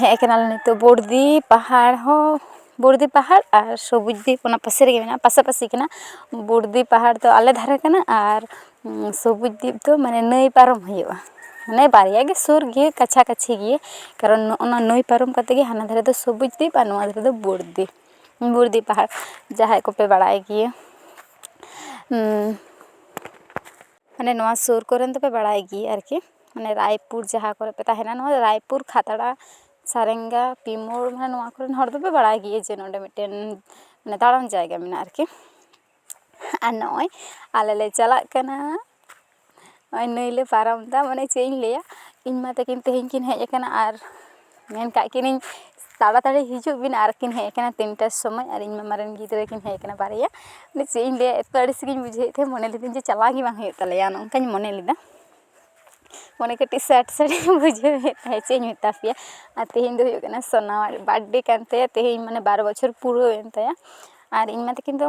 ᱦᱮᱡ ᱠᱟᱱᱟᱞᱮ ᱱᱤᱛᱳᱜ ᱵᱚᱲᱫᱤ ᱯᱟᱦᱟᱲ ᱦᱚᱸ ᱵᱚᱲᱫᱤ ᱯᱟᱦᱟᱲ ᱟᱨ ᱥᱚᱵᱩᱡ ᱫᱤᱯ ᱚᱱᱟ ᱯᱟᱥᱮ ᱨᱮᱜᱮ ᱢᱮᱱᱟᱜᱼᱟ ᱯᱟᱥᱟᱯᱟᱥᱤ ᱠᱟᱱᱟ ᱵᱚᱲᱫᱤ ᱯᱟᱦᱟᱲ ᱫᱚ ᱟᱞᱮ ᱫᱷᱟᱨᱮ ᱠᱟᱱᱟ ᱟᱨ ᱥᱚᱵᱩᱡ ᱫᱤᱯ ᱫᱚ ᱢᱟᱱᱮ ᱱᱟᱹᱭ ᱯᱟᱨᱚᱢ ᱦᱩᱭᱩᱜᱼᱟ ᱢᱟᱱᱮ ᱵᱟᱨᱭᱟ ᱜᱮ ᱥᱩᱨ ᱜᱮᱭᱟ ᱠᱟᱪᱷᱟ ᱠᱟᱹᱪᱷᱤ ᱜᱮᱭᱟ ᱠᱟᱨᱚᱱ ᱱᱚᱜᱼᱚᱱᱟ ᱱᱟᱹᱭ ᱯᱟᱨᱚᱢ ᱠᱟᱛᱮ ᱜᱮ ᱦᱟᱱᱟ ᱫᱷᱟᱨᱮ ᱫᱚ ᱥᱚᱵᱩᱡ ᱫᱤᱯ ᱟᱨ ᱱᱚᱣᱟ ᱫᱷᱟᱨᱮ ᱫᱚ ᱵᱚᱲᱫᱤ ᱵᱚᱲᱫᱤ ᱯᱟᱦᱟᱲ ᱡᱟᱦᱟᱸᱭ ᱠᱚᱯᱮ ᱵᱟᱲᱟᱭ ᱜᱮᱭᱟ ᱢᱟᱱᱮ ᱱᱚᱣᱟ ᱥᱩᱨ ᱠᱚᱨᱮᱱ ᱫᱚᱯᱮ ᱵᱟᱲᱟᱭ ᱜᱮ ᱟᱨᱠᱤ ᱢᱟᱱᱮ ᱨᱟᱭᱯᱩᱨ ᱡᱟᱦᱟᱸ ᱠᱚᱨᱮ ᱯᱮ ᱛᱟᱦᱮᱱᱟ ᱱᱚᱣᱟ ᱨᱟᱭᱯᱩᱨ ᱠᱷᱟᱛᱲᱟ ᱥᱟᱨᱮᱝᱜᱟ ᱯᱤ ᱢᱳᱲ ᱢᱟᱱᱮ ᱱᱚᱣᱟ ᱠᱚᱨᱮᱱ ᱦᱚᱲ ᱫᱚᱯᱮ ᱵᱟᱲᱟᱭ ᱜᱮᱭᱟ ᱡᱮ ᱱᱚᱰᱮ ᱢᱤᱫᱴᱮᱱ ᱢᱟᱱᱮ ᱫᱟᱬᱟᱱ ᱡᱟᱭᱜᱟ ᱢᱮᱱᱟᱜᱼᱟ ᱟᱨᱠᱤ ᱟᱨ ᱱᱚᱜᱼᱚᱭ ᱟᱞᱮ ᱞᱮ ᱪᱟᱞᱟᱜ ᱠᱟᱱᱟ ᱱᱚᱜᱼᱚᱭ ᱱᱟᱹᱭ ᱞᱮ ᱯᱟᱨᱚᱢᱫᱟ ᱢᱟᱱᱮ ᱪᱮᱫ ᱤᱧ ᱞᱟᱹᱭᱟ ᱤᱧ ᱢᱟ ᱛᱟᱹᱠᱤᱱ ᱛᱮᱦᱮᱧ ᱠᱤᱱ ᱦᱮᱡ ᱠᱟᱱᱟ ᱟᱨ ᱢᱮᱱ ᱠᱟᱜ ᱠᱤᱱᱟᱹᱧ ᱛᱟᱲᱟᱛᱟᱲᱤ ᱦᱤᱡᱩᱜ ᱵᱤᱱ ᱟᱨ ᱠᱤᱱ ᱦᱮᱡ ᱠᱟᱱᱟ ᱛᱤᱱᱴᱟ ᱥᱚᱢᱚᱭ ᱟᱨ ᱤᱧ ᱢᱟᱢᱟ ᱨᱮᱱ ᱜᱤᱫᱽᱨᱟᱹ ᱠᱤᱱ ᱦᱮᱡ ᱠᱟᱱᱟ ᱵᱟᱨᱭᱟ ᱢᱟᱱᱮ ᱪᱮᱫ ᱤᱧ ᱞᱟᱹᱭᱟ ᱮᱛᱚ ᱟᱹᱲᱤᱥ ᱜᱤᱧ ᱵᱩᱡᱷᱟᱹᱣᱮᱜ ᱛᱟᱦᱮᱱ ᱢᱚᱱᱮ ᱞᱤᱫᱟᱹᱧ ᱡᱮ ᱪᱟᱞᱟᱣ ᱜᱮ ᱵᱟᱝ ᱦᱩᱭᱩᱜ ᱛᱟᱞᱮᱭᱟ ᱚᱱᱮ ᱚᱱᱠᱟᱧ ᱢᱚᱱᱮ ᱞᱮᱫᱟ ᱢᱚᱱᱮ ᱠᱟᱹᱴᱤᱡ ᱥᱮᱰ ᱥᱮᱰ ᱤᱧ ᱵᱩᱡᱷᱟᱹᱣᱮᱜ ᱛᱟᱦᱮᱸᱜ ᱪᱮᱫ ᱤᱧ ᱢᱮᱛᱟ ᱯᱮᱭᱟ ᱟᱨ ᱛᱮᱦᱮᱧ ᱫᱚ ᱦᱩᱭᱩᱜ ᱠᱟᱱᱟ ᱥᱳᱱᱟᱣᱟᱜ ᱵᱟᱨᱛᱷᱰᱮ ᱠᱟᱱ ᱛᱟᱭᱟ ᱛᱮᱦᱮᱧ ᱢᱟᱱᱮ ᱵᱟᱨ ᱵᱚᱪᱷᱚᱨ ᱯᱩᱨᱟᱹᱣᱮᱱ ᱛᱟᱭᱟ ᱟᱨ ᱤᱧ ᱢᱟ ᱛᱟᱹᱠᱤᱱ ᱫᱚ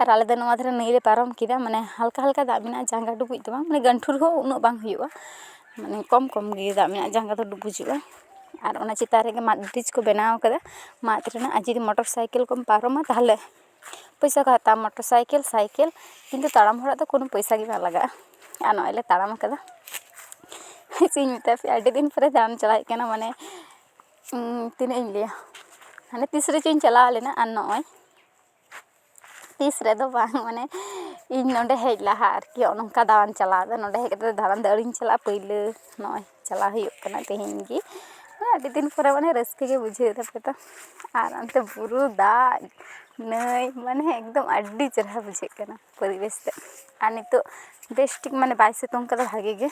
ᱟᱨ ᱟᱞᱮ ᱫᱚ ᱱᱚᱣᱟ ᱫᱷᱟᱨᱮ ᱱᱟᱹᱭᱞᱮ ᱯᱟᱨᱚᱢ ᱠᱮᱫᱟ ᱢᱟᱱᱮ ᱦᱟᱞᱠᱟ ᱦᱟᱞᱠᱟ ᱫᱟᱜ ᱢᱮᱱᱟᱜᱼᱟ ᱡᱟᱸᱜᱟ ᱰᱩᱵᱩᱡ ᱫᱚ ᱵᱟᱝ ᱢᱟᱱᱮ ᱜᱟᱹᱱᱴᱷᱩ ᱨᱮᱦᱚᱸ ᱩᱱᱟᱹᱜ ᱵᱟᱝ ᱦᱩᱭᱩᱜᱼᱟ ᱢᱟᱱᱮ ᱠᱚᱢ ᱠᱚᱢ ᱜᱮ ᱫᱟᱜ ᱢᱮᱱᱟᱜᱼᱟ ᱡᱟᱸᱜᱟ ᱫᱚ ᱰᱩᱵᱩᱡᱚᱜᱼᱟ ᱟᱨ ᱚᱱᱟ ᱪᱮᱛᱟᱱ ᱨᱮᱜᱮ ᱢᱟᱫ ᱵᱨᱤᱡᱽ ᱠᱚ ᱵᱮᱱᱟᱣ ᱠᱟᱫᱟ ᱢᱟᱫ ᱨᱮᱱᱟᱜ ᱟᱨ ᱡᱩᱫᱤ ᱢᱚᱴᱚᱨ ᱥᱟᱭᱠᱮᱞ ᱠᱚᱢ ᱯᱟᱨᱚᱢᱟ ᱛᱟᱦᱚᱞᱮ ᱯᱚᱭᱥᱟ ᱠᱚ ᱦᱟᱛᱟᱣᱟ ᱢᱚᱴᱚᱨ ᱥᱟᱭᱠᱮᱞ ᱥᱟᱭᱠᱮᱞ ᱠᱤᱱᱛᱩ ᱛᱟᱲᱟᱢ ᱦᱚᱲᱟᱜ ᱫᱚ ᱠᱳᱱᱳ ᱯᱚᱭᱥᱟ ᱜᱮ ᱵᱟᱝ ᱞᱟᱜᱟᱜᱼᱟ ᱟᱨ ᱱᱚᱜᱼᱚᱭ ᱞᱮ ᱛᱟᱲᱟᱢ ᱠᱟᱫᱟ ᱪᱮᱫ ᱤᱧ ᱢᱮᱛᱟ ᱯᱮᱭᱟ ᱟᱹᱰᱤ ᱫᱤᱱ ᱯᱚᱨᱮ ᱫᱟᱬᱟᱱ ᱪᱟᱞᱟᱜ ᱦᱩᱭᱩᱜ ᱠᱟᱱᱟ ᱢᱟᱱᱮ ᱛᱤᱱᱟᱹᱜ ᱤᱧ ᱞᱟᱹᱭᱟ ᱦᱟᱱᱮ ᱛᱤᱥ ᱨᱮᱪᱚᱧ ᱪᱟᱞᱟᱣ ᱞᱮᱱᱟ ᱟᱨ ᱱᱚᱜᱼᱚᱭ ᱛᱤᱥ ᱨᱮᱫᱚ ᱵᱟᱝ ᱢᱟᱱᱮ ᱤᱧ ᱱᱚᱰᱮ ᱦᱮᱡ ᱞᱟᱦᱟ ᱟᱨᱠᱤ ᱱᱚᱜᱼᱚ ᱱᱚᱝᱠᱟ ᱫᱟᱬᱟᱱ ᱪᱟᱞᱟᱣ ᱫᱚ ᱱᱚᱰᱮ ᱦᱮᱡ ᱠᱟᱛᱮ ᱫᱚ ᱫᱟᱬᱟᱱ ᱫᱚ ᱟᱹᱣᱨᱤᱧ ᱪᱟᱞᱟᱜᱼᱟ ᱯᱟᱹᱭᱞᱟᱹ ᱱᱚᱜᱼᱚᱭ ᱪᱟᱞᱟᱣ ᱦᱩᱭᱩᱜ ᱠᱟᱱᱟ ᱛᱮᱦᱮᱧ ᱜᱮ ᱟᱹᱰᱤ ᱫᱤᱱ ᱯᱚᱨᱮ ᱢᱟᱱᱮ ᱨᱟᱹᱥᱠᱟᱹ ᱜᱮ ᱵᱩᱡᱷᱟᱹᱣ ᱫᱟ ᱯᱮᱛᱚ ᱟᱨ ᱚᱱᱛᱮ ᱵᱩᱨᱩ ᱫᱟᱜ ᱱᱟᱹᱭ ᱢᱟᱱᱮ ᱮᱠᱫᱚᱢ ᱟᱹᱰᱤ ᱪᱮᱨᱦᱟ ᱵᱩᱡᱷᱟᱹᱜ ᱠᱟᱱᱟ ᱯᱚᱨᱤᱵᱮᱥ ᱛᱮ ᱟᱨ ᱱᱤᱛᱚᱜ ᱵᱮᱥ ᱴᱷᱤᱠ ᱢᱟᱱᱮ ᱵᱟᱭ ᱥᱤᱛᱩᱝ ᱠᱟᱫᱟ ᱵᱷᱟᱜᱮ ᱜᱮ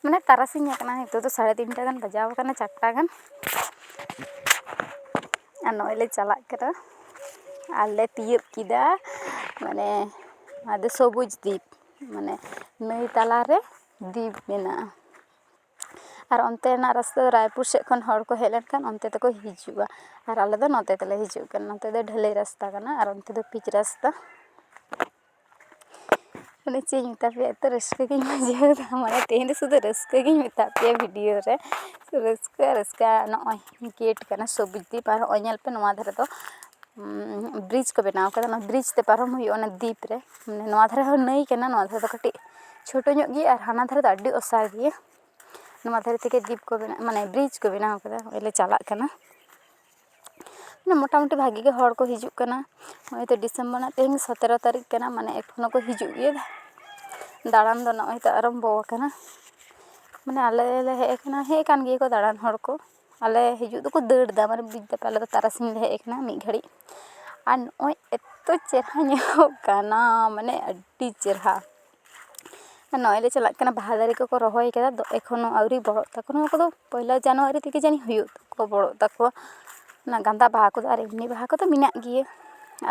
ᱢᱟᱱᱮ ᱛᱟᱨᱟᱥᱤᱧ ᱟᱠᱟᱱᱟ ᱱᱤᱛᱚᱜ ᱫᱚ ᱥᱟᱲᱮ ᱛᱤᱱᱴᱟ ᱜᱟᱱ ᱵᱟᱡᱟᱣ ᱠᱟᱱᱟ ᱪᱟᱨᱴᱟ ᱜᱟᱱ ᱟᱨ ᱱᱚᱜᱼᱚᱭ ᱞᱮ ᱪᱟᱞᱟᱜ ᱠᱟᱱᱟ ᱟᱨ ᱞᱮ ᱛᱤᱭᱳᱜ ᱠᱮᱫᱟ ᱢᱟᱱᱮ ᱟᱫᱚ ᱥᱚᱵᱩᱡᱽ ᱫᱤᱯ ᱢᱟᱱᱮ ᱱᱟᱹᱭ ᱛᱟᱞᱟᱨᱮ ᱫᱤᱯ ᱢᱮᱱᱟᱜᱼᱟ ᱟᱨ ᱚᱱᱛᱮᱱᱟᱜ ᱨᱟᱥᱛᱟ ᱫᱚ ᱨᱟᱭᱯᱩᱨ ᱥᱮᱫ ᱠᱷᱚᱱ ᱦᱚᱲ ᱠᱚ ᱦᱮᱡ ᱞᱮᱱᱠᱷᱟᱱ ᱚᱱᱛᱮ ᱛᱮᱠᱚ ᱦᱤᱡᱩᱜᱼᱟ ᱟᱨ ᱟᱞᱮ ᱫᱚ ᱱᱚᱛᱮ ᱛᱮᱞᱮ ᱦᱤᱡᱩᱜ ᱠᱟᱱᱟ ᱱᱚᱛᱮ ᱫᱚ ᱰᱷᱟᱹᱞᱟᱹᱭ ᱨᱟᱥᱛᱟ ᱠᱟᱱᱟ ᱟᱨ ᱚᱱᱛᱮ ᱫᱚ ᱯᱤᱪ ᱨᱟᱥᱛᱟ ᱢᱟᱱᱮ ᱪᱮᱫ ᱤᱧ ᱢᱮᱛᱟ ᱯᱮᱭᱟ ᱮᱛᱚ ᱨᱟᱹᱥᱠᱟᱹ ᱜᱤᱧ ᱵᱩᱡᱷᱟᱹᱣᱫᱟ ᱢᱟᱱᱮ ᱛᱮᱦᱮᱧ ᱫᱚ ᱥᱩᱫᱷᱩ ᱨᱟᱹᱥᱠᱟᱹ ᱜᱤᱧ ᱢᱮᱛᱟᱜ ᱯᱮᱭᱟ ᱵᱷᱤᱰᱤᱭᱳ ᱨᱮ ᱨᱟᱹᱥᱠᱟᱹ ᱟᱨ ᱨᱟᱹᱥᱠᱟᱹ ᱟᱨ ᱱᱚᱜᱼᱚᱭ ᱜᱮᱴ ᱠᱟᱱᱟ ᱥᱚᱵᱩᱡ ᱫᱤᱯ ᱟᱨ ᱦᱚᱸᱜᱼᱚᱭ ᱧᱮᱞ ᱯᱮ ᱱᱚᱣᱟ ᱫᱷᱟᱨᱮ ᱫᱚ ᱵᱨᱤᱡᱽ ᱠᱚ ᱵᱮᱱᱟᱣ ᱠᱟᱫᱟ ᱚᱱᱟ ᱵᱨᱤᱡᱽ ᱛᱮ ᱯᱟᱨᱚᱢ ᱦᱩᱭᱩᱜᱼᱟ ᱚᱱᱟ ᱫᱤᱯ ᱨᱮ ᱱᱚᱣᱟ ᱫᱷᱟᱨᱮ ᱦᱚᱸ ᱱᱟᱹᱭ ᱠᱟᱱᱟ ᱱᱚᱣᱟ ᱫᱷᱟᱨᱮ ᱫᱚ ᱠᱟᱹᱴᱤᱡ ᱪᱷᱳᱴᱳ ᱧᱚᱜ ᱜᱮᱭᱟ ᱟᱨ ᱦᱟᱱᱟ ᱫᱷᱟᱨᱮ ᱫᱚ ᱟᱹᱰᱤ ᱚᱥᱟᱨ ᱜᱮᱭᱟ ᱱᱚᱣᱟ ᱫᱷᱟᱨᱮ ᱛᱮᱜᱮ ᱫᱤᱯ ᱠᱚ ᱵᱮᱱᱟᱣ ᱢᱟᱱᱮ ᱵᱨᱤᱡᱽ ᱠᱚ ᱵᱮᱱᱟᱣ ᱠᱟᱫᱟ ᱱᱚᱜᱼᱚᱭ ᱞᱮ ᱪᱟᱞᱟᱜ ᱠᱟᱱᱟ ᱢᱟᱱᱮ ᱢᱳᱴᱟᱢᱩᱴᱤ ᱵᱷᱟᱜᱮ ᱜᱮ ᱦᱚᱲ ᱠᱚ ᱦᱤᱡᱩᱜ ᱠᱟᱱᱟ ᱱᱚᱜᱼᱚᱭ ᱛᱚ ᱰᱤᱥᱮᱢᱵᱚᱨ ᱨᱮᱱᱟᱜ ᱛᱮᱦᱮᱧ ᱥᱚᱛᱨᱚ ᱛᱟᱹᱨᱤᱠᱷ ᱠᱟᱱᱟ ᱢᱟᱱᱮ ᱮᱠᱷᱚᱱᱳ ᱠᱚ ᱦᱤᱡᱩᱜ ᱜᱮᱭᱟ ᱫᱟᱬᱟᱱ ᱫᱚ ᱱᱚᱜᱼᱚᱭ ᱛᱚ ᱟᱨᱟᱢᱵᱚ ᱠᱟᱱᱟ ᱢᱟᱱᱮ ᱟᱞᱮ ᱞᱮ ᱦᱮᱡ ᱠᱟᱱᱟ ᱦᱮᱡ ᱠᱟᱱ ᱜᱮᱭᱟ ᱠᱚ ᱫᱟᱬᱟᱱ ᱦᱚᱲ ᱠᱚ ᱟᱞᱮ ᱦᱤᱡᱩᱜ ᱫᱚᱠᱚ ᱫᱟᱹᱲ ᱮᱫᱟ ᱢᱟᱱᱮ ᱵᱩᱡᱽ ᱫᱟᱯᱮ ᱟᱞᱮ ᱫᱚ ᱛᱟᱨᱟᱥᱤᱧ ᱞᱮ ᱦᱮᱡ ᱠᱟᱱᱟ ᱢᱤᱫ ᱜᱷᱟᱹᱲᱤᱡ ᱟᱨ ᱱᱚᱜᱼᱚᱭ ᱮᱛᱚ ᱪᱮᱦᱨᱟ ᱧᱮᱞᱚᱜ ᱠᱟᱱᱟ ᱢᱟᱱᱮ ᱟᱹᱰᱤ ᱪᱮᱦᱨᱟ ᱱᱚᱜᱼᱚᱭ ᱞᱮ ᱪᱟᱞᱟᱜ ᱠᱟᱱᱟ ᱵᱟᱦᱟ ᱫᱟᱨᱮ ᱠᱚᱠᱚ ᱨᱚᱦᱚᱭ ᱠᱟᱫᱟ ᱟᱫᱚ ᱮᱠᱷᱚᱱᱳ ᱟᱹᱣᱨᱤ ᱵᱚᱲᱚᱜ ᱛᱟᱠᱚ ᱱᱚᱣᱟ ᱠᱚᱫᱚ ᱯᱚᱭᱞᱟ ᱡᱟᱱᱩᱣᱟᱨᱤ ᱛᱮᱜᱮ ᱡᱟᱹᱱᱤᱡ ᱦᱩᱭᱩᱜ ᱛᱟᱠᱚᱣᱟ ᱵᱚᱲᱚᱜ ᱛᱟᱠᱚᱣᱟ ᱚᱱᱟ ᱜᱟᱸᱫᱟ ᱵᱟᱦᱟ ᱠᱚᱫᱚ ᱟᱨ ᱮᱢᱱᱤ ᱵᱟᱦᱟ ᱠᱚᱫᱚ ᱢᱮᱱᱟᱜ ᱜᱮᱭᱟ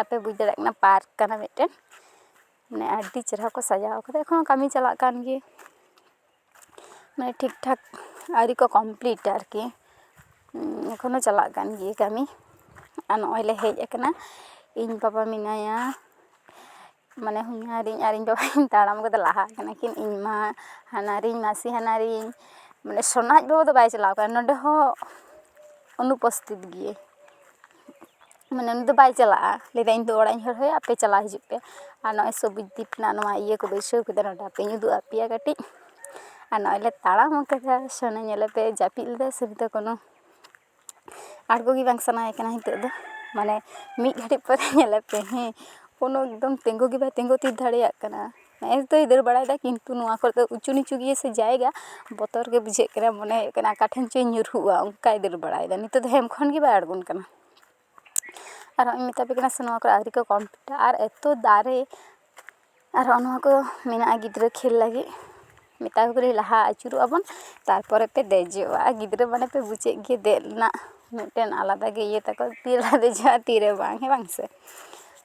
ᱟᱯᱮ ᱵᱩᱡᱽ ᱫᱟᱲᱮᱭᱟᱜ ᱠᱟᱱᱟ ᱯᱟᱨᱠ ᱠᱟᱱᱟ ᱢᱤᱫᱴᱮᱱ ᱢᱟᱱᱮ ᱟᱹᱰᱤ ᱪᱮᱦᱨᱟ ᱠᱚ ᱥᱟᱡᱟᱣ ᱠᱟᱫᱟ ᱮᱠᱷᱚᱱᱳ ᱠᱟᱹᱢᱤ ᱪᱟᱞᱟᱜ ᱠᱟᱱ ᱜᱮᱭᱟ ᱢᱟᱱᱮ ᱴᱷᱤᱠ ᱴᱷᱟᱠ ᱟᱹᱣᱨᱤ ᱠᱚ ᱠᱚᱢᱯᱞᱤᱴᱟ ᱟᱨᱠᱤ ᱮᱠᱷᱚᱱᱳ ᱪᱟᱞᱟᱜ ᱠᱟᱱ ᱜᱮᱭᱟ ᱠᱟᱹᱢᱤ ᱟᱨ ᱱᱚᱜᱼᱚᱭ ᱞᱮ ᱦᱮᱡ ᱠᱟᱱᱟ ᱤᱧ ᱵᱟᱵᱟ ᱢᱮᱱᱟᱭᱟ ᱢᱟᱱᱮ ᱦᱚᱧᱦᱟᱨᱤᱧ ᱟᱨ ᱤᱧ ᱵᱟᱵᱟ ᱠᱤᱱ ᱛᱟᱲᱟᱢ ᱠᱟᱛᱮ ᱞᱟᱦᱟ ᱠᱟᱱᱟ ᱠᱤᱱ ᱤᱧ ᱢᱟ ᱦᱟᱱᱦᱟᱨᱤᱧ ᱢᱟᱥᱤ ᱦᱟᱱᱦᱟᱨᱤᱧ ᱢᱟᱱᱮ ᱥᱳᱱᱟᱡᱽ ᱵᱟᱹᱵᱩ ᱫᱚ ᱵᱟᱭ ᱪᱟᱞᱟᱣ ᱠᱟᱱᱟ ᱱᱚᱰᱮ ᱦᱚᱸ ᱚᱱᱩᱯᱚᱥᱛᱷᱤᱛ ᱜᱮᱭᱟᱭ ᱢᱟᱱᱮ ᱩᱱᱤ ᱫᱚ ᱵᱟᱭ ᱪᱟᱞᱟᱜᱼᱟ ᱞᱟᱹᱭ ᱫᱟᱭ ᱤᱧ ᱫᱚ ᱚᱲᱟᱜ ᱤᱧ ᱦᱚᱦᱚᱭᱟ ᱟᱯᱮ ᱪᱟᱞᱟᱣ ᱦᱤᱡᱩᱜ ᱯᱮ ᱟᱨ ᱱᱚᱜᱼᱚᱭ ᱥᱚᱵᱩᱡ ᱫᱤᱯ ᱨᱮᱱᱟᱜ ᱱᱚᱣᱟ ᱤᱭᱟᱹ ᱠᱚ ᱵᱟᱹᱭᱥᱟᱹᱣ ᱠᱟᱫᱟ ᱱᱚᱰᱮ ᱦᱟᱯᱮᱧ ᱩᱫᱩᱜ ᱟᱯᱮᱭᱟ ᱠᱟᱹᱴᱤᱡ ᱟᱨ ᱱᱚᱜᱼᱚᱭ ᱞᱮ ᱛᱟᱲᱟᱢ ᱠᱟᱫᱟ ᱥᱳᱱᱟ ᱧᱮᱞ ᱞᱮᱯᱮ ᱡᱟᱹᱯᱤᱫ ᱞᱮᱫᱟᱭ ᱥᱮ ᱱᱤᱛᱚᱜ ᱠᱳᱱᱳ ᱟᱬᱜᱚ ᱜᱮ ᱵᱟᱝ ᱥᱟᱱᱟᱭᱮ ᱠᱟᱱᱟ ᱱᱤᱛᱚᱜ ᱫᱚ ᱢᱟᱱᱮ ᱢᱤᱫ ᱜᱷᱟᱹᱲᱤᱡ ᱯᱚᱨᱮ ᱧᱮᱞᱮᱯᱮ ᱦᱮᱸ ᱠᱳᱱᱳ ᱮᱠᱫᱚᱢ ᱛᱤᱸᱜᱩ ᱜᱮ ᱵᱟᱭ ᱛᱤᱸᱜᱩ ᱛᱷᱤᱨ ᱫᱟᱲᱮᱭᱟᱜ ᱠᱟᱱᱟ ᱱᱮᱜᱼᱮ ᱛᱚᱭ ᱫᱟᱹᱲ ᱵᱟᱲᱟᱭᱮᱫᱟ ᱠᱤᱱᱛᱩ ᱱᱚᱣᱟ ᱠᱚᱨᱮ ᱫᱚ ᱩᱪᱩ ᱱᱤᱪᱩ ᱜᱮᱭᱟ ᱥᱮ ᱡᱟᱭᱜᱟ ᱵᱚᱛᱚᱨ ᱜᱮ ᱵᱩᱡᱷᱟᱹᱜ ᱠᱟᱱᱟ ᱢᱚᱱᱮ ᱦᱩᱭᱩᱜ ᱠᱟᱱᱟ ᱚᱠᱟ ᱴᱷᱮᱱ ᱪᱚᱭ ᱧᱩᱨᱦᱩᱜᱼᱟ ᱚᱱᱠᱟᱭ ᱫᱟᱹᱲ ᱵᱟᱲᱟᱭᱮᱫᱟ ᱱᱤᱛᱚᱜ ᱫᱚ ᱦᱮᱢ ᱠᱷᱚᱱ ᱜᱮ ᱵᱟᱭ ᱟᱬᱜᱚᱱ ᱠᱟᱱᱟ ᱟᱨ ᱦᱚᱸᱜᱼᱚᱭ ᱤᱧ ᱢᱮᱛᱟ ᱯᱮ ᱠᱟᱱᱟ ᱥᱮ ᱱᱚᱣᱟ ᱠᱚᱨᱮ ᱟᱹᱣᱨᱤ ᱠᱚ ᱠᱚᱢᱯᱤᱞᱤᱴᱟ ᱟᱨ ᱮᱛᱚ ᱫᱟᱨᱮ ᱟᱨ ᱦᱚᱸᱜᱼᱚ ᱱᱚᱣᱟ ᱠᱚ ᱢᱮᱱᱟᱜᱼᱟ ᱜᱤᱫᱽᱨᱟᱹ ᱠᱷᱮᱞ ᱞᱟᱹᱜᱤᱫ ᱢᱮᱛᱟ ᱠᱚ ᱠᱟᱹᱱᱟᱹᱧ ᱞᱟᱦᱟ ᱟᱹᱪᱩᱨᱚᱜᱼᱟ ᱵᱚᱱ ᱛᱟᱨᱯᱚᱨᱮ ᱯᱮ ᱫᱮᱡᱚᱜᱼᱟ ᱟᱨ ᱜᱤᱫᱽᱨᱟᱹ ᱢᱟᱱᱮ ᱯᱮ ᱵᱩᱡᱮᱫ ᱜᱮᱭᱟ ᱫᱮᱡ ᱨᱮᱱᱟᱜ ᱢᱤᱫᱴᱮᱱ ᱟᱞᱟᱫᱟ ᱜᱮ ᱤᱭᱟᱹ ᱛᱟᱠᱚ ᱛᱤᱨᱮᱞᱮ ᱫᱮᱡᱚᱜᱼᱟ ᱛᱤᱨᱮ ᱵᱟᱝ ᱦᱮᱸ ᱵᱟᱝ ᱥᱮ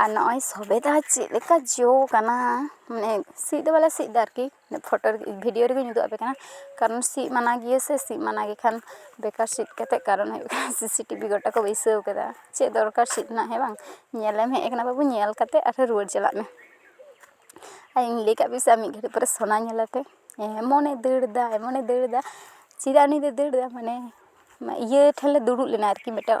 ᱟᱨ ᱱᱚᱜᱼᱚᱭ ᱥᱚᱵᱮ ᱫᱚ ᱪᱮᱫ ᱞᱮᱠᱟ ᱡᱚ ᱠᱟᱱᱟ ᱢᱟᱱᱮ ᱥᱤᱫ ᱫᱚ ᱵᱟᱞᱮ ᱥᱤᱫ ᱫᱟ ᱟᱨᱠᱤ ᱯᱷᱳᱴᱳ ᱨᱮᱜᱮ ᱵᱷᱤᱰᱤᱭᱳ ᱨᱮᱜᱮᱧ ᱩᱫᱩᱜ ᱟᱯᱮ ᱠᱟᱱᱟ ᱠᱟᱨᱚᱱ ᱥᱤᱫ ᱢᱟᱱᱟ ᱜᱮᱭᱟ ᱥᱮ ᱥᱤᱫ ᱢᱟᱱᱟ ᱜᱮᱠᱷᱟᱱ ᱵᱮᱠᱟᱨ ᱥᱤᱫ ᱠᱟᱛᱮ ᱠᱟᱨᱚᱱ ᱦᱩᱭᱩᱜ ᱠᱟᱱᱟ ᱥᱤᱥᱤ ᱴᱤᱵᱷᱤ ᱜᱚᱴᱟ ᱠᱚ ᱵᱟᱹᱭᱥᱟᱹᱣ ᱠᱟᱫᱟ ᱪᱮᱫ ᱫᱚᱨᱠᱟᱨ ᱥᱤᱫ ᱨᱮᱱᱟᱜ ᱦᱮᱸ ᱵᱟᱝ ᱧᱮᱞᱮᱢ ᱦᱮᱡ ᱠᱟᱱᱟ ᱵᱟᱹᱵᱩ ᱧᱮᱞ ᱠᱟᱛᱮ ᱟᱨᱦᱚᱸ ᱨᱩᱣᱟᱹᱲ ᱪᱟᱞᱟᱜ ᱢᱮ ᱟᱨ ᱤᱧ ᱞᱟᱹᱭ ᱠᱟᱜ ᱯᱮᱭᱟ ᱥᱮ ᱟᱨ ᱢᱤᱫ ᱜᱷᱟᱹᱲᱤᱡ ᱯᱚᱨᱮ ᱥᱳᱱᱟ ᱧᱮᱞᱟᱯᱮ ᱮᱢᱚᱱᱮ ᱫᱟᱹᱲ ᱫᱟ ᱮᱢᱚᱱᱮ ᱫᱟᱹᱲ ᱫᱟ ᱪᱮᱫᱟᱜ ᱩᱱᱤ ᱫᱚᱭ ᱫᱟᱹᱲ ᱫᱟ ᱢᱟᱱᱮ ᱤᱭᱟᱹ ᱴᱷᱮᱱ ᱞᱮ ᱫᱩᱲᱩᱵ ᱞᱮᱱᱟ ᱟᱨᱠᱤ ᱢᱤᱫᱴᱮᱡ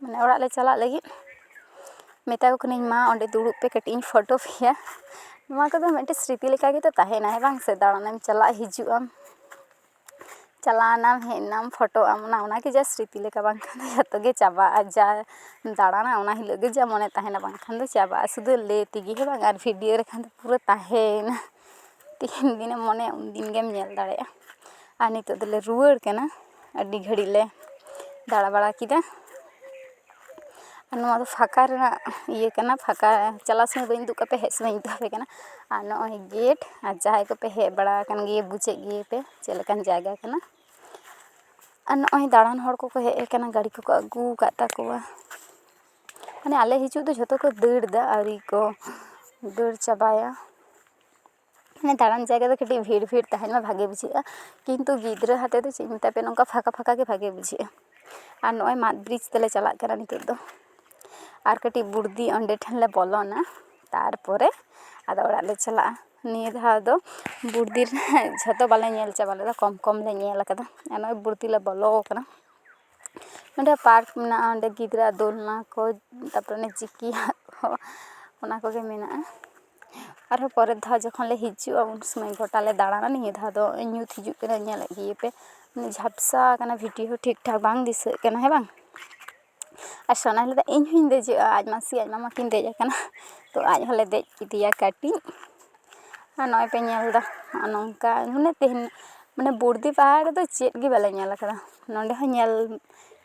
ᱢᱟᱱᱮ ᱚᱲᱟᱜ ᱞᱮ ᱪᱟᱞᱟᱜ ᱞᱟᱹᱜᱤᱫ ᱢᱮᱛᱟ ᱠᱚ ᱠᱟᱹᱱᱟᱹᱧ ᱢᱟ ᱚᱸᱰᱮ ᱫᱩᱲᱩᱵ ᱯᱮ ᱠᱟᱹᱴᱤᱡ ᱤᱧ ᱯᱷᱳᱴᱳ ᱯᱮᱭᱟ ᱱᱚᱣᱟ ᱠᱚᱫᱚ ᱢᱤᱫᱴᱮᱱ ᱥᱨᱤᱛᱤ ᱞᱮᱠᱟ ᱜᱮᱛᱚ ᱛᱟᱦᱮᱱᱟ ᱦᱮᱸ ᱵᱟᱝ ᱥᱮ ᱫᱟᱬᱟᱱ ᱮᱢ ᱪᱟᱞᱟᱜ ᱦᱤᱡᱩᱜ ᱟᱢ ᱪᱟᱞᱟᱣ ᱱᱟᱢ ᱦᱮᱡ ᱱᱟᱢ ᱯᱷᱳᱴᱳ ᱟᱢ ᱚᱱᱟ ᱚᱱᱟᱜᱮ ᱡᱟ ᱥᱨᱤᱛᱤ ᱞᱮᱠᱟ ᱵᱟᱝᱠᱷᱟᱱ ᱫᱚ ᱡᱚᱛᱚ ᱜᱮ ᱪᱟᱵᱟᱜᱼᱟ ᱡᱟ ᱫᱟᱬᱟᱱᱟ ᱚᱱᱟ ᱦᱤᱞᱳᱜ ᱜᱮ ᱡᱟ ᱢᱚᱱᱮ ᱛᱟᱦᱮᱱᱟ ᱵᱟᱝᱠᱷᱟᱱ ᱫᱚ ᱪᱟᱵᱟᱜᱼᱟ ᱥᱩᱫᱷᱩ ᱞᱟᱹᱭ ᱛᱮᱜᱮ ᱦᱮᱸ ᱵᱟᱝ ᱟᱨ ᱵᱷᱤᱰᱤᱭᱳ ᱞᱮᱠᱷᱟᱱ ᱫᱚ ᱯᱩᱨᱟᱹ ᱛᱟᱦᱮᱸᱭᱮᱱᱟ ᱛᱤᱱ ᱫᱤᱱᱮᱢ ᱢᱚᱱᱮᱭᱟ ᱩᱱ ᱫᱤᱱ ᱜᱮᱢ ᱧᱮᱞ ᱫᱟᱲᱮᱭᱟᱜᱼᱟ ᱟᱨ ᱱᱤᱛᱚᱜ ᱫᱚᱞᱮ ᱨᱩᱣᱟᱹᱲ ᱠᱟᱱᱟ ᱟᱹᱰᱤ ᱜᱷᱟᱹᱲᱤᱡ ᱞᱮ ᱫᱟᱬᱟ ᱵᱟᱲᱟ ᱠᱮᱫᱟ ᱟᱨ ᱱᱚᱣᱟ ᱫᱚ ᱯᱷᱟᱸᱠᱟ ᱨᱮᱱᱟᱜ ᱤᱭᱟᱹ ᱠᱟᱱᱟ ᱯᱷᱟᱸᱠᱟ ᱪᱟᱞᱟᱜ ᱥᱚᱢᱚᱭ ᱵᱟᱹᱧ ᱩᱫᱩᱜ ᱟᱠᱟᱫ ᱯᱮᱭᱟ ᱦᱮᱡ ᱥᱚᱢᱚᱭ ᱤᱧ ᱩᱫᱩᱜ ᱟᱯᱮ ᱠᱟᱱᱟ ᱟᱨ ᱱᱚᱜᱼᱚᱭ ᱜᱮᱹᱴ ᱟᱨ ᱡᱟᱦᱟᱸᱭ ᱠᱚᱯᱮ ᱦᱮᱡ ᱵᱟᱲᱟ ᱟᱠᱟᱱ ᱜᱮᱭᱟ ᱵᱩᱡᱮᱫ ᱜᱮᱭᱟᱯᱮ ᱪᱮᱫ ᱞᱮᱠᱟᱱ ᱡᱟᱭᱜᱟ ᱠᱟᱱᱟ ᱟᱨ ᱱᱚᱜᱼᱚᱭ ᱫᱟᱬᱟᱱ ᱦᱚᱲ ᱠᱚᱠᱚ ᱦᱮᱡ ᱟᱠᱟᱱᱟ ᱜᱟᱹᱰᱤ ᱠᱚᱠᱚ ᱟᱹᱜᱩ ᱟᱠᱟᱫ ᱛᱟᱠᱚᱣᱟ ᱢᱟᱱᱮ ᱟᱞᱮ ᱦᱤᱡᱩᱜ ᱫᱚ ᱡᱷᱚᱛᱚ ᱠᱚ ᱫᱟᱹᱲ ᱮᱫᱟ ᱟᱹᱣᱨᱤ ᱠᱚ ᱫᱟᱹᱲ ᱪᱟᱵᱟᱭᱟ ᱢᱟᱱᱮ ᱫᱟᱬᱟᱱ ᱡᱟᱭᱜᱟ ᱫᱚ ᱠᱟᱹᱴᱤᱡ ᱵᱷᱤᱲ ᱵᱷᱤᱲ ᱛᱟᱦᱮᱱ ᱢᱟ ᱵᱷᱟᱜᱮ ᱵᱩᱡᱷᱟᱹᱜᱼᱟ ᱠᱤᱱᱛᱩ ᱜᱤᱫᱽᱨᱟᱹ ᱦᱟᱛᱮ ᱫᱚ ᱪᱮᱫ ᱤᱧ ᱢᱮᱛᱟ ᱯᱮᱭᱟ ᱱᱚᱝᱠᱟ ᱯᱷᱟᱸᱠᱟ ᱯᱷᱟᱸᱠᱟ ᱜᱮ ᱵᱷᱟᱜᱮ ᱵᱩᱡᱷᱟᱹᱜᱼᱟ ᱟᱨ ᱱᱚᱜᱼᱚᱭ ᱢᱟᱫ ᱵᱨᱤᱡᱽ ᱛᱮᱞᱮ ᱪᱟᱞᱟᱜ ᱠᱟᱱᱟ ᱱᱤᱛᱚᱜ ᱫᱚ ᱟᱨ ᱠᱟᱹᱴᱤᱡ ᱵᱩᱲᱫᱤ ᱚᱸᱰᱮ ᱴᱷᱮᱱ ᱞᱮ ᱵᱚᱞᱚᱱᱟ ᱛᱟᱨᱯᱚᱨᱮ ᱟᱫᱚ ᱚᱲᱟᱜ ᱞᱮ ᱪᱟᱞᱟᱜᱼᱟ ᱱᱤᱭᱟᱹ ᱫᱷᱟᱣ ᱫᱚ ᱵᱩᱲᱫᱤ ᱨᱮᱱᱟᱜ ᱡᱷᱚᱛᱚ ᱵᱟᱞᱮ ᱧᱮᱞ ᱪᱟᱵᱟ ᱞᱮᱫᱟ ᱠᱚᱢ ᱠᱚᱢ ᱞᱮ ᱧᱮᱞ ᱠᱟᱫᱟ ᱟᱨ ᱱᱚᱜᱼᱚᱭ ᱵᱩᱲᱫᱤ ᱞᱮ ᱵᱚᱞᱚ ᱠᱟᱱᱟ ᱚᱸᱰᱮ ᱯᱟᱨᱠ ᱢᱮᱱᱟᱜᱼᱟ ᱚᱸᱰᱮ ᱜᱤᱫᱽᱨᱟᱹ ᱟᱜ ᱫᱳᱞᱱᱟ ᱠᱚ ᱛᱟᱨᱯᱚᱨᱮ ᱚᱱᱮ ᱪᱤᱠᱤ ᱟᱜ ᱠᱚ ᱚᱱᱟ ᱠᱚᱜᱮ ᱢᱮᱱᱟᱜᱼᱟ ᱟᱨᱦᱚᱸ ᱯᱚᱨᱮᱨ ᱫᱷᱟᱣ ᱡᱚᱠᱷᱚᱱ ᱞᱮ ᱦᱤᱡᱩᱜᱼᱟ ᱩᱱ ᱥᱚᱢᱚᱭ ᱜᱳᱴᱟ ᱞᱮ ᱫᱟᱬᱟᱱᱟ ᱱᱤᱭᱟᱹ ᱫᱷᱟᱣ ᱫᱚ ᱧᱩᱛ ᱦᱤᱡᱩᱜ ᱠᱟᱱᱟ ᱧᱮᱞ ᱤᱫᱤᱭᱮ ᱯᱮ ᱡᱷᱟᱯᱥᱟ ᱟᱠᱟᱱᱟ ᱵᱷᱤᱰᱤᱭᱳ ᱦᱚᱸ ᱴᱷᱤᱠ ᱴᱷᱟᱠ ᱵᱟᱝ ᱫᱤᱥᱟᱹᱜ ᱠᱟᱱᱟ ᱦᱮᱸ ᱵᱟᱝ ᱟᱨ ᱥᱳᱱᱟᱭ ᱞᱟᱹᱭᱫᱟ ᱤᱧ ᱦᱚᱸᱧ ᱫᱮᱡᱚᱜᱼᱟ ᱟᱡ ᱢᱟᱹᱥᱤ ᱟᱡ ᱢᱟᱢᱟ ᱠᱤᱱ ᱫᱮᱡ ᱟᱠᱟᱱᱟ ᱛᱚ ᱟᱡ ᱦᱚᱸᱞᱮ ᱫᱮᱡ ᱠᱮᱫᱮᱭᱟ ᱠᱟᱹᱴᱤᱡ ᱟᱨ ᱱᱚᱜᱼᱚᱭ ᱯᱮ ᱧᱮᱞᱫᱟ ᱱᱚᱜᱼᱚ ᱱᱚᱝᱠᱟ ᱢᱟᱱᱮ ᱛᱮᱦᱮᱧ ᱢᱟᱱᱮ ᱵᱚᱨᱫᱤ ᱯᱟᱦᱟᱲ ᱨᱮᱫᱚ ᱪᱮᱫ ᱜᱮ ᱵᱟᱞᱮ ᱧᱮᱞ ᱠᱟᱫᱟ ᱱᱚᱰᱮ ᱦᱚᱸ ᱧᱮᱞ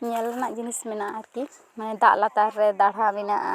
ᱧᱮᱞ ᱨᱮᱱᱟᱜ ᱡᱤᱱᱤᱥ ᱢᱮᱱᱟᱜᱼᱟ ᱟᱨᱠᱤ ᱢᱟᱱᱮ ᱫᱟᱜ ᱞᱟᱛᱟᱨ ᱨᱮ ᱫᱟᱲᱦᱟ ᱢᱮᱱᱟᱜᱼᱟ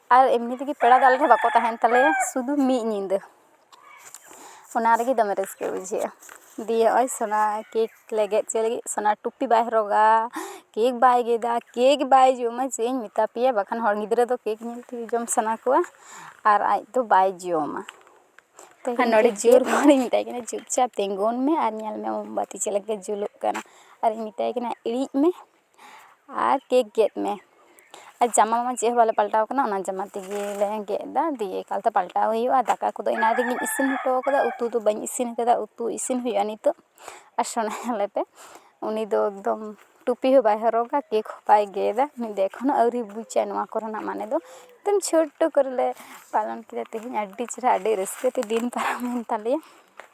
ᱟᱨ ᱮᱢᱱᱤ ᱛᱮᱜᱮ ᱯᱮᱲᱟ ᱫᱚ ᱟᱞᱮ ᱴᱷᱮᱱ ᱵᱟᱠᱚ ᱛᱟᱦᱮᱱ ᱛᱟᱞᱮᱭᱟ ᱥᱩᱫᱩ ᱢᱤᱫ ᱧᱤᱫᱟᱹ ᱚᱱᱟ ᱨᱮᱜᱮ ᱫᱚᱢᱮ ᱨᱟᱹᱥᱠᱟᱹ ᱵᱩᱡᱷᱟᱹᱜᱼᱟ ᱫᱤᱭᱮ ᱱᱚᱜᱼᱚᱭ ᱥᱚᱱᱟ ᱠᱮᱠ ᱞᱮ ᱜᱮᱫ ᱦᱚᱪᱚᱭ ᱞᱟᱹᱜᱤᱫ ᱥᱚᱱᱟ ᱴᱩᱯᱤ ᱵᱟᱭ ᱦᱚᱨᱚᱜᱟ ᱠᱮᱠ ᱵᱟᱭ ᱜᱮᱫᱟ ᱠᱮᱠ ᱵᱟᱭ ᱡᱚᱢᱟ ᱪᱮᱫ ᱤᱧ ᱢᱮᱛᱟ ᱯᱮᱭᱟ ᱵᱟᱠᱷᱟᱱ ᱦᱚᱲ ᱜᱤᱫᱽᱨᱟᱹ ᱫᱚ ᱠᱮᱠ ᱧᱮᱞ ᱛᱮᱜᱮ ᱡᱚᱢ ᱥᱟᱱᱟ ᱠᱚᱣᱟ ᱟᱨ ᱟᱡ ᱫᱚ ᱵᱟᱭ ᱡᱚᱢᱟ ᱟᱨ ᱱᱚᱰᱮ ᱡᱳᱨ ᱜᱚᱨᱚᱧ ᱢᱮᱛᱟᱭ ᱠᱟᱱᱟ ᱪᱩᱯᱪᱟᱯ ᱛᱤᱸᱜᱩᱱ ᱢᱮ ᱟᱨ ᱧᱮᱞ ᱢᱮ ᱢᱳᱢᱵᱟᱛᱤ ᱪᱮᱫ ᱞᱮᱠᱟ ᱡᱩᱞᱩᱜ ᱠᱟᱱᱟ ᱟᱨᱤᱧ ᱢᱮᱛᱟᱭ ᱠᱟᱱᱟ ᱤᱬᱤᱡ ᱢᱮ ᱟᱨ ᱠᱮᱠ ᱜᱮᱫ ᱢᱮ ᱟᱨ ᱡᱟᱢᱟ ᱢᱟ ᱪᱮᱫ ᱦᱚᱸ ᱵᱟᱞᱮ ᱯᱟᱞᱴᱟᱣ ᱠᱟᱱᱟ ᱚᱱᱟ ᱡᱟᱢᱟ ᱛᱮᱜᱮ ᱞᱮ ᱜᱮᱫ ᱫᱟ ᱫᱤᱭᱮ ᱮᱠᱟᱞᱛᱮ ᱯᱟᱞᱴᱟᱣ ᱦᱩᱭᱩᱜᱼᱟ ᱫᱟᱠᱟ ᱠᱚᱫᱚ ᱮᱱᱟᱝ ᱨᱮᱜᱮᱧ ᱤᱥᱤᱱ ᱦᱚᱴᱚ ᱠᱟᱫᱟ ᱩᱛᱩ ᱫᱚ ᱵᱟᱹᱧ ᱤᱥᱤᱱ ᱠᱟᱫᱟ ᱩᱛᱩ ᱤᱥᱤᱱ ᱦᱩᱭᱩᱜᱼᱟ ᱱᱤᱛᱚᱜ ᱟᱨ ᱥᱳᱱᱟ ᱧᱮᱞᱮ ᱯᱮ ᱩᱱᱤ ᱫᱚ ᱮᱠᱫᱚᱢ ᱴᱩᱯᱤ ᱦᱚᱸ ᱵᱟᱭ ᱦᱚᱨᱚᱜᱟ ᱠᱮᱠ ᱦᱚᱸ ᱵᱟᱭ ᱜᱮᱫᱟ ᱩᱱᱤ ᱫᱚ ᱮᱠᱷᱚᱱᱳ ᱟᱹᱣᱨᱤ ᱵᱩᱡᱟᱭ ᱱᱚᱣᱟ ᱠᱚᱨᱮᱱᱟᱜ ᱢᱟᱱᱮ ᱫᱚ ᱮᱠᱫᱚᱢ ᱪᱷᱳᱴᱳ ᱠᱚᱨᱮᱞᱮ ᱯᱟᱞᱚᱱ ᱠᱮᱫᱟ ᱛᱮᱦᱮᱧ ᱟᱹᱰᱤ ᱪᱮᱦᱨᱟ ᱟᱹᱰᱤ ᱨᱟᱹᱥᱠᱟᱹ ᱛᱮ ᱫᱤᱱ ᱯᱟᱨᱚᱢᱮᱱ ᱛᱟᱞᱮᱭᱟ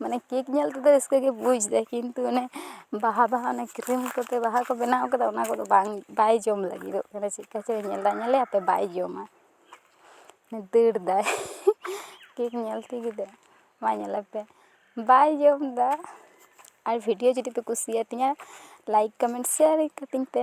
ᱢᱟᱱᱮ ᱠᱮᱠ ᱧᱮᱞ ᱛᱮᱫᱚ ᱨᱟᱹᱥᱠᱟᱹ ᱜᱮ ᱵᱩᱡᱽ ᱫᱟᱭ ᱠᱤᱱᱛᱩ ᱚᱱᱮ ᱵᱟᱦᱟ ᱵᱟᱦᱟ ᱚᱱᱮ ᱠᱨᱤᱢ ᱠᱚᱛᱮ ᱵᱟᱦᱟ ᱠᱚ ᱵᱮᱱᱟᱣ ᱠᱟᱫᱟ ᱚᱱᱟ ᱠᱚᱫᱚ ᱵᱟᱝ ᱵᱟᱭ ᱡᱚᱢ ᱞᱟᱹᱜᱤᱫᱚᱜ ᱠᱟᱱᱟ ᱪᱮᱫᱠᱟ ᱪᱚᱭ ᱧᱮᱞᱫᱟ ᱧᱮᱞᱮ ᱟᱛᱮᱜ ᱵᱟᱭ ᱡᱚᱢᱟ ᱫᱟᱹᱲ ᱫᱟᱭ ᱠᱮᱠ ᱧᱮᱞ ᱛᱮᱜᱮ ᱫᱟᱹᱲ ᱢᱟ ᱧᱮᱞᱚᱜ ᱯᱮ ᱵᱟᱭ ᱡᱚᱢᱫᱟ ᱟᱨ ᱵᱷᱤᱰᱤᱭᱳ ᱡᱩᱫᱤ ᱯᱮ ᱠᱩᱥᱤᱭᱟᱛᱤᱧᱟ ᱞᱟᱭᱤᱠ ᱠᱚᱢᱮᱱᱴ ᱥᱮᱭᱟᱨ ᱠᱟᱹᱛᱤᱧ ᱯᱮ